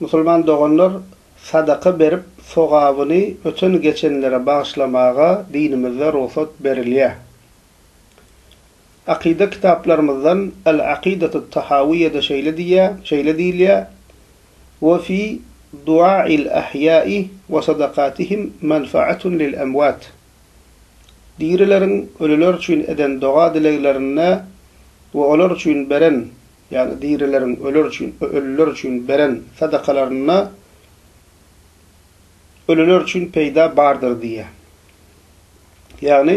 Musulman doganlar sadaka berip sogabyny öten geçenlere bagyşlamaga dinimizde rugsat berilýär. Akyda kitaplarymyzdan El Akidatu Tahawiýede şeýle diýýär, şeýle diýilýär, We fi duail ahýa'i we sadakatihim manfaatun lil emwat. Dirileriň ölüler üçin eden doga-dileglerinde we olar üçin beren Ýa-da dirileriň öler üçin we ölüler üçin beren sadakalarynda ölüler üçin peýda bardyr diýýär. Ýagny,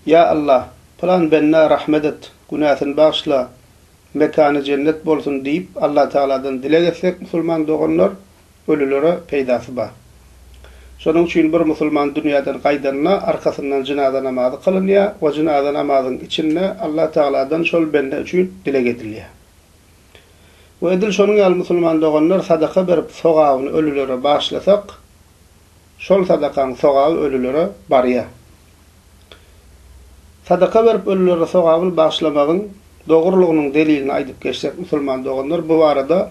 Ýa Allah, pylan bendä rahmet et, günäsini bagyşla, mekany jennet bolsun diýip Allatagaladan dileg etsek musulman doganlar, Ölülere peýdasy bar. Şonuň üçin bir musulman dünýäden gaýdanda, arkasyndan jynaza namazy kylynýar we jynaza namazyň içinde Allah Tagaladan şol bende üçin dileg edilýär. We edil şonuň ýaly musulman doganlar sadaka berip sogabyny ölülere bagyşlasak, şol sadakaň sogaby ölülere barýar. Sadaka berip ölülere sogabyny bagyşlamagyň dogrulygynyň delilini aýdyp geçsek musulman doganlar bu barada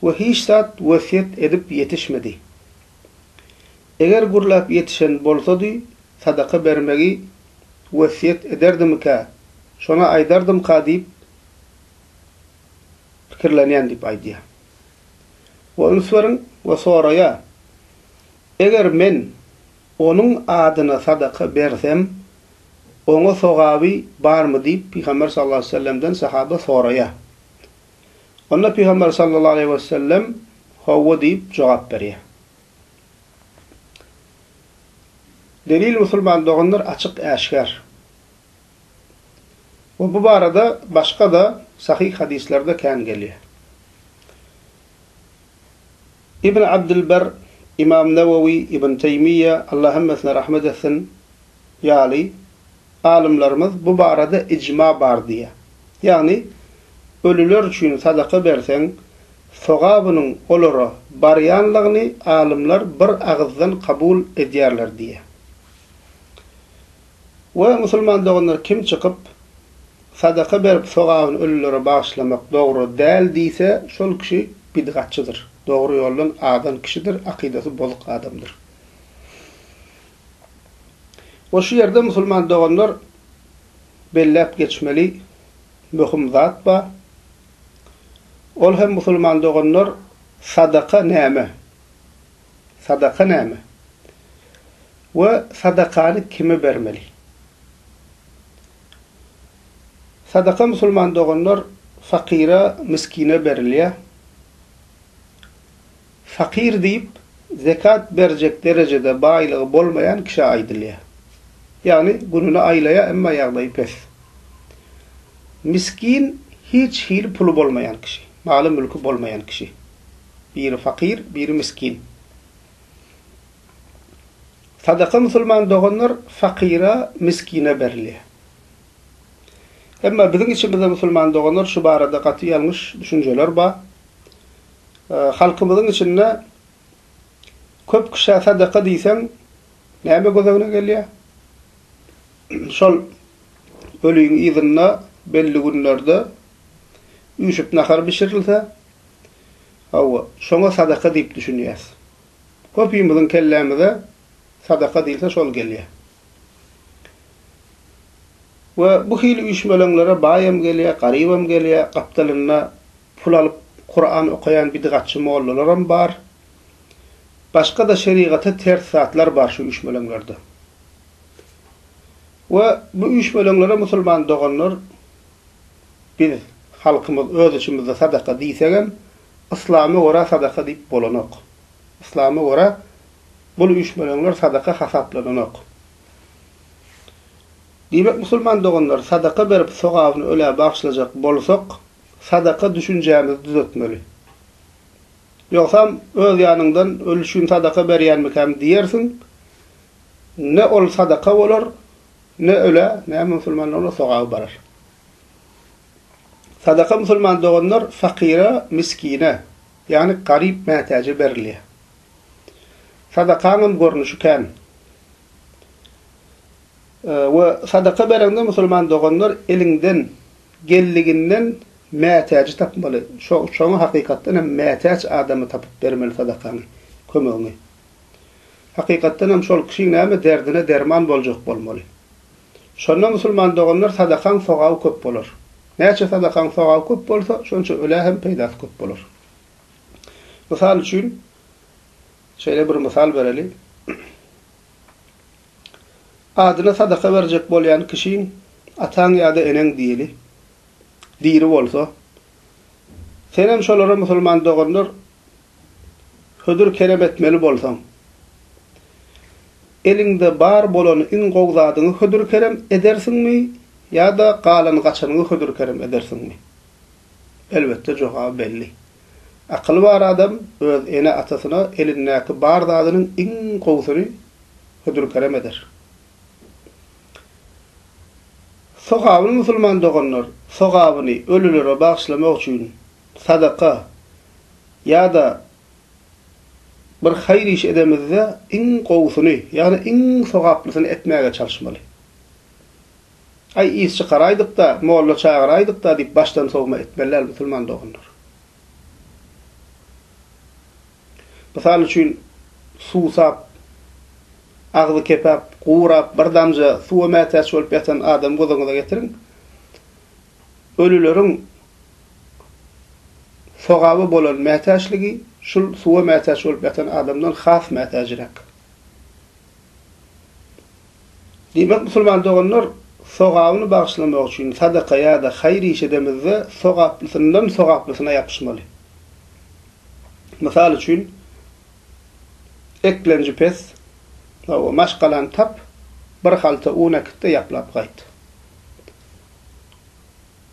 we hiç zat wesýet edip ýetişmedi. Eger gürläp ýetişen bolsady, sadaka bermegi wesýet ederdimikä, şony aýdardymyka diýip pikirlenýän diýip aýdýar. We üns beriň we soraýar, Eger men onuň adyna sadaka bersem, oňa sogaby barmy diýip Pygamber sallallahu aleýhi we sellemden sahaba soraýar. Onda Pygamber sallallahu aleýhi we sellem Howwa diýip jogap berýär. Delil musulman doganlar açyk äşgär. We bu barada başga-da sahyh hadyslerde kän gelýär. Ibn Abdylber, Imam Nawawi, Ibn Teýmiýe, Allah hemmesine rahmet etsin, ýaly, alymlarymyz bu barada ijma bar diýýär. Ýagny, ölüler üçin sadaka berseň, sogabynyň olara barýanlygyny alymlar bir agyzdan kabul edýärler diýýär. We musulman doganlar kim çykyp, sadaka berip sogabyny ölülere bagyşlamak dogry däl diýse, şol kişi bidgatçydyr, dogry ýoldan azan kişidir, akydasy bozuk adamdyr. We şu ýerde musulman doganlar belläp geçmeli möhüm zat bar. Ol hem musulman doganlar sadaka näme? Sadaka näme? We sadakany kime bermeli? Sadaka musulman doganlar fakyra, miskine berilýär. Fakyr diýip, zekat berjek derejede baýlygy bolmaýan kişä aýdylýar. Ýagny gününi aýlaýar, emma ýagdaýy pes. Miskin, hiç hili puly bolmaýan kişi, maly-mülki bolmaýan kişi. Biri fakyr, biri miskin. Sadaka musulman doganlar fakyra, miskine berilýär. Emma biziň içimizde musulman doganlar şu barada gaty ýalňyş düşünjeler bar. Halkymyzyň içinde köp kişä sadaka diýseň näme göz öňüne gelýär? Şol öliň yzynda belli günlerde üýşüp nahar bişirilse, hawa, şoňa sadaka diýip düşünýäs. Köpimiziň kellämize sadaka diýilse şol gelýär. We bu hili üýşmeleňlere baýam gelýär, garybam gelýär, gapdalynda Pul alyp Kuran okaýan bidgatçy mollalaram bar. Başga-da şerigata ters zatlar bar şu üýşmeleňlerde. We bu üýşmeleňlere musulman doganlar biz halkymyz öz içimizde sadaka diýsegem yslama görä sadaka diýip bolanok. Yslama görä bul üýşmeleňler sadaka hasaplananok. Diýmek musulman doganlar sadaka berip sogabyny ölä bagşlajak bolsak sadaka düşünjämizi düzetmeli. Ýogsam, öz ýanyňdan ölüşgin sadaka berýänmikäm diýersiň, ne ol sadaka bolar, ne ölä, ne musulmana onuň sogaby barar. Sadaka musulman doganlar fakyra, miskine, ýagny garyp mätäje berilýär. Sadakaňam görnüşi kän. We sadaka bereňde musulman doganlar eliňden geldiginden mätäji tapmaly. Şoňa hakykatdan hem mätäç adamy tapyp bermeli sadakaňy, kömegiňi. Hakykatdan hem şol kişiň näme derdine derman boljak bolmaly. Şonda musulman doganlar sadakaň sogaby köp bolar. Näçe sadakaň sogaby köp bolsa, şonça ölä hem peýdasy köp bolar. Mysal üçin, şeýle bir mysal bereli. Adyna sadaka berjek bolýan kişiň ataň ýa-da eneň diýeli, diri bolsa. Senem şolara musulman doganlar hödür kerem etmeli bolsaň. Eliňde bar bolany iň gowy zadyňy hödür kerem edersiňmi ýa-da galan gaçanyňy hödür kerem edersiňmi? Elbetde jogaby belli. Akyly bar adam öz ene-atasyna elindäki bar zadynyň iň gowusyny hödür-kerem eder. Sogabyny musulman doganlar sogabyny ölülere bagyşlamak üçin sadaka ýa-da bir haýyr iş edemizde iň gowusyny, ýagny iň sogaplysyny etmäge çalyşmaly. Aý, is çykaraýdyk-da, molla çagyraýdyk-da diýip başdan sowma etmeli däl musulman doganlar. Mysal üçin, suwsap, agzy kepäp, gurap, bir damja suwa mätäç bolup ýatan adamy göz öňüňize getiriň. Ölüleriň sogaba bolan mätäçligi şul suwa mätäç bolup ýatan adamdan has mätäjräk. Diýmek, musulman doganlar, sogabyny bagyşlamak üçin sadaka ýa-da haýyr iş edemizde, sogaplysyndan sogaplysyna ýapyşmaly. Mysal üçin, Eklenji pes, hawa, maşgalany tap, bir halta un äkit-de, ýaplap gaýt.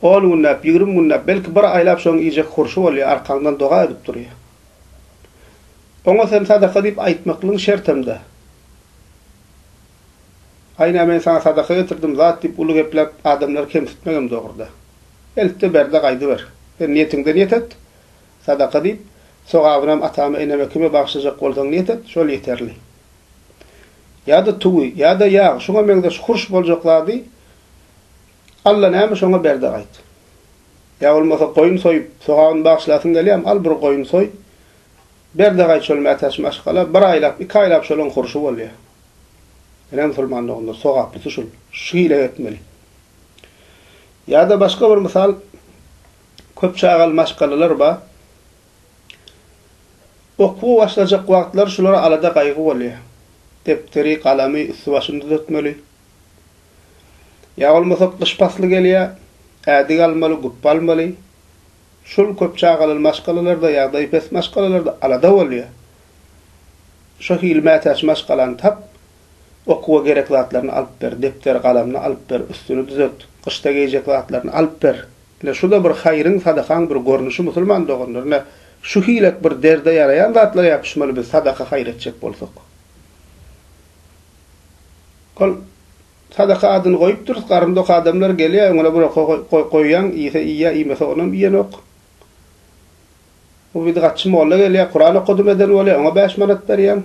On günläp, ýigrimi günläp, belki, bir aýlap şoň iýjek hurşy bolýar, arkaňdan doga edip durýar. Oňa sen sadaka diýip aýtmaklygyň şertem-dä. Aýna men saňa sadaka getirdim zat diýip uly gepläp adamlary kemsitmegem dogruda. Eltde berde gaýdyber. Sen niýetiňde niýet et. Sadaka diýip, sogabynam atama eneme kime bagşlajak bolsaň niýet et, şol ýeterli. Ýa-da tugy, ýa-da ýag, şuňa meňzeş hurş boljak zady Alla näme şoňa berde gaýt. Ýa bolmasa goýun soýup, sogabyny bagşlasyň gelýämi, al bir goýun soý. Berdigaý çöl mätäç maşgala bir aýlap, iki aýlap şolaň hurşy bolýar. Ine musulman doganlar, sogaplysy şul, şu hile etmeli. Ýa-da başga bir mysal, köp çagaly maşgalalar bar. Okuwa başlajak wagtlary şulara alada-gaýgy bolýar. Depderi, galamy, üsti-başyny düzetmeli. Ýa bolmasa gyş pasly gelýär, ädik almaly, gupba almaly. Şul köp çagaly maşgalalarda ýagdaýy pes maşgalalarda alada bolýar. Şo hili mätäç maşgalany tap, okuwa gerek zatlaryny alyp ber, depder, galamyny alyp ber, üstüni düzelt, gyşda geýjek zatlaryny alyp ber. Ine şuda bir haýryň, sadakaň bir görnüşi musulman doganlar. Ine şu hilek bir derde ýaraýan zatlar ýapyşmaly biz sadaka haýyr etjek bolsak. Ol Sadaka adyny goýupdyrys, garynda ok adamlar gelýär, öňüne bir oka goýýaň, iýse iýýär, iýmese onam iýenok. Bir bidgatçy molla gelýär, Kuran okadym eden bolýar, oňa bäş manat berýäň,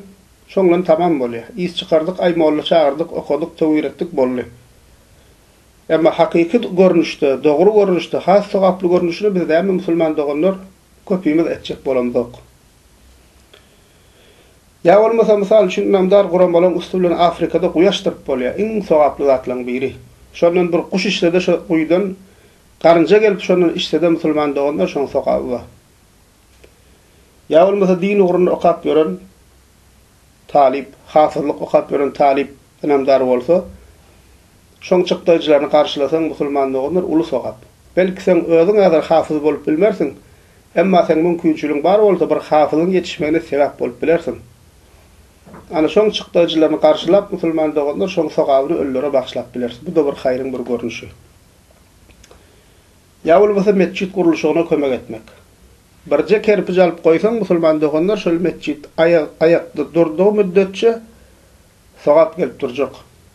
şoň bilen tamam bolýar. Is çykardyk, aý molla çagyrdyk, okadyk, töwir etdik, boldy. Emma hakyky görnüşde, dogry görnüşde, has sogaply görnüşini biz näme musulman doganlar köpimiz etjek bolamzok. Ýa bolmasa, mysal üçin, ynamdar guramalaryň üsti bilen Afrikada guýy açdyryp bolýar, iň sogaply zatlaryň biri. Şondan bir guş içsede şo guýydan garynja gelip şondan içsede musulman doganlar şoň sogaby bar. Ýa bolmasa din ugrunda okap ýören talyp, hafyzlyk okap ýören talyp ynamdar bolsa, Şoň çykdaýjylaryny garşylasaň musulman doganlar uly sogap. Belki seň özüň häzir hafyz bolup bilmersiň, emma seň mümkinçiligiň bar bolsa bir hafyzyň ýetişmegine sebäp bolup bilersiň. Ana şoň çykdaýjylaryny garşylap musulman doganlar şoň sogabyny ölülere bagyşlap bileris. Bu-da bir haýryň bir görnüşi. Ýa bolmasa metjit gurluşygyna kömek etmek. Birje kerpij alyp goýsaň musulman doganlar şol metjit aýak aýakda durdygy müddetçe sogap gelip durjak.